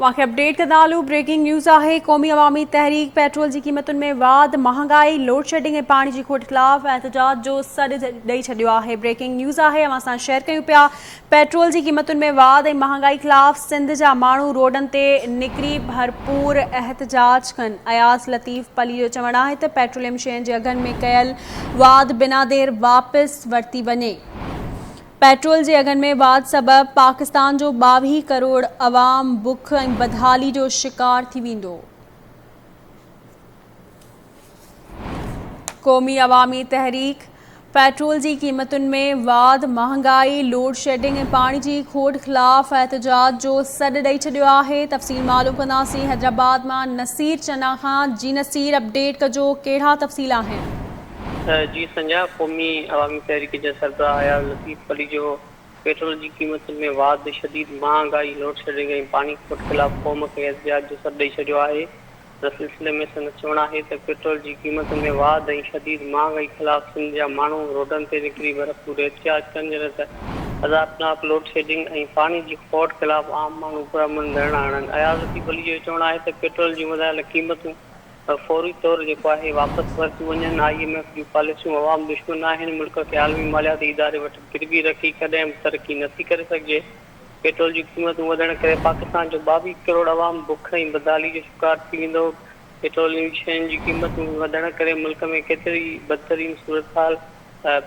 واقعي اپڊيٽ ڪندا هلون بريڪنگ نيوز آهي قومي عوامي تحريڪ پيٽرول جي قيمتن ۾ واڌ مهانگائي لوڊ شيڊنگ ۽ پاڻي جي کوٽ خلاف احتجاج جو سڏ ڏئي ڇڏيو آهي بريڪنگ نيوز آهي اوهان سان شيئر ڪيون پيا پيٽرول جي قيمتن ۾ واڌ ۽ مهانگائي خلاف سنڌ جا ماڻهو روڊن تي نڪري ڀرپور احتجاج ڪن اياز لطيف پلي جو چوڻ آهي ته پيٽروليم شين جي اگهن ۾ ڪيل واڌ بنا دير واپس ورتي وڃي پيٽرول جي اگهن ۾ واڌ سبب پاڪستان جو ٻاويهه ڪروڙ عوام بک ۽ بدحالي جو شڪار ٿي ويندو. قومي عوامي تحريڪ پيٽرول جي قيمتن ۾ واڌ، مهانگائي، لوڊشيڊنگ ۽ پاڻي جي کوٽ خلاف احتجاج جو سڏ ڏئي ڇڏيو آهي، تفصيل معلوم ڪنداسين حيدرآباد مان نصير چنا کان، جي نصير اپڊيٽ ڪجو ڪهڙا تفصيل آهن. جي سنجاء قومي عوامي تحريڪ جا سربراهه عياض لطيف پليجو پيٽرول جي قيمتن ۾ واڌ، شديد مهانگائي، لوڊشيڊنگ ۽ پاڻي کوٽ خلاف قوم کي احتجاج جو سڏ ڏئي ڇڏيو آهي ان سلسلي ۾ سندس چوڻ آهي ته پيٽرول جي قيمتن ۾ واڌ ۽ شديد مهانگائي خلاف سنڌ جا ماڻهو روڊن تي نڪري ڀرپور احتجاج ڪن جڏهن ته عذابناڪ لوڊشيڊنگ ۽ پاڻي جي کوٽ خلاف عام ماڻهو پرامن ڌرڻا هڻن عياض لطيف پليجو جو چوڻ آهي ته پيٽرول جون وڌايل قيمتون فوري طور جيڪو آهي واپس ورتيون وڃن، آء ايم ايف جون پاليسيون عوام دشمن آهن، ملڪ کي عالمي مالياتي اداري وٽ گربي رکي ڪڏهن به ترقي نه ٿي ڪري سگهجي، پيٽرول جون قيمتون وڌڻ ڪري پاڪستان جو ٻاويهه ڪروڙ عوام بک ۽ بدحالي جو شڪار ٿي ويندو، پيٽروليم شين جي قيمتون وڌڻ ڪري ملڪ ۾ ڪيتري بدترين صورتحال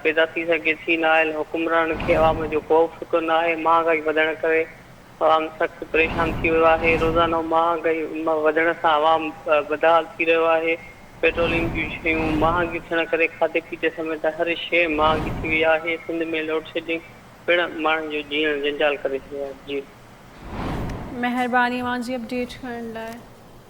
پيدا ٿي سگهي ٿي، نااهل حڪمرانن کي عوام جو ڪو به فڪر نه آهي، مهانگائي وڌڻ ڪري عوام سخت پريشان ٿي ويو آهي، روزانو مهانگائي وڌڻ سان عوام بدحال ٿي رهيو آهي، پيٽروليم جون شيون مهانگيون ٿيڻ ڪري کاڌي پيتي سميت هر شيء مهانگي ٿي وئي آهي، سنڌ ۾ لوڊشيڊنگ پڻ ماڻهن جو جيئڻ جنجال ڪري ڇڏيو آهي. مهرباني اوهان جي اپڊيٽ ڪرڻ لاء.